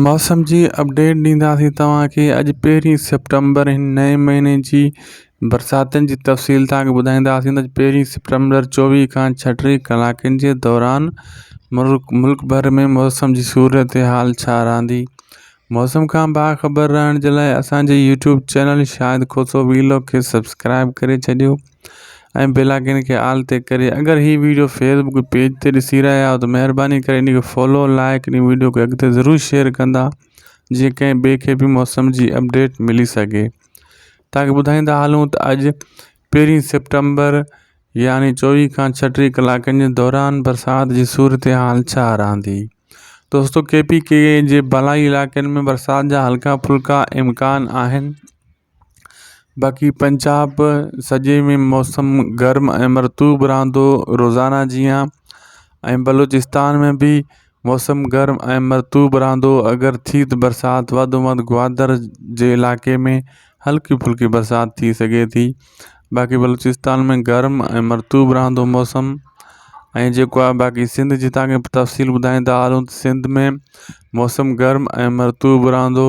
موسم جي اپڊيٽ ڏينداسين توهان کي اڄ پهرين سيپٽمبر هن نئين مهيني جي برساتن جي تفصيل توهان کي ٻڌائينداسين ته پهرين سيپٽمبر چوويهه کان ڇهه ٽي ڪلاڪن جي دوران مرڪ ملڪ ڀر ۾ موسم جي صورت حال ڇا رهندي موسم کان باخبر رهڻ جي لاء اسان جي يوٽيوب چينل شاهد کوسو ويلو کي سبسڪرائب ڪري ڇڏيو ۽ بيلاگين کي آل تي ڪري اگر هي ويڊيو فيس بڪ پيج تي ڏسي رهيا آهيو ته مهرباني ڪري ان کي فالو لائڪ ان ويڊيو کي اڳتي ضرور شيئر ڪندا جيئن ڪنهن ٻئي کي به موسم جي اپڊيٽ ملي سگهي تاڪي ٻڌائيندا هلون ته اڄ پهرين سيپٽمبر يعني چوويهه کان ڇٽيهه ڪلاڪن جي دوران برسات جي صورتحال ڇا رهندي دوستو ڪي پي ڪي جي بالا علائقن ۾ برسات جا هلڪا ڦلڪا امڪان آهن باقي پنجاب سڄي ۾ موسم گرم ۽ مرطوب رھندو روزانه جيان ۽ بلوچستان ۾ به موسم گرم ۽ مرطوب رھندو اگر ٿي ته برسات وڌ ۾ وڌ گوادر جي علائقي ۾ ھلڪي ڦلڪي برسات ٿي سگھي ٿي باقي بلوچستان ۾ گرم ۽ مرطوب رھندو موسم ۽ جيڪو آ باقي سنڌ جي تفصيل ٻڌائيندا ھلون ته سنڌ ۾ موسم گرم ۽ مرطوب رھندو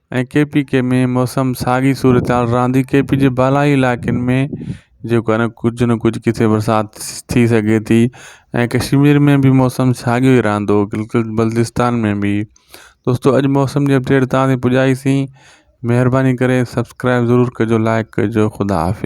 ۽ ڪي پي ڪي ۾ موسم ساڳي صورتحال رهندي ڪي پي جي بالائي علائقن ۾ جيڪو آهي ڪجهه نه ڪجهه ڪٿي برسات ٿي سگهي ٿي ۽ ڪشمير ۾ به موسم ساڳيو ئي رهندو گلگت بلتستان ۾ به دوستو اڄ موسم جي اپڊيٽ تان پڄائيسين مهرباني ڪري سبسڪرائب ضرور ڪجو لائڪ ڪجو خدا حافظ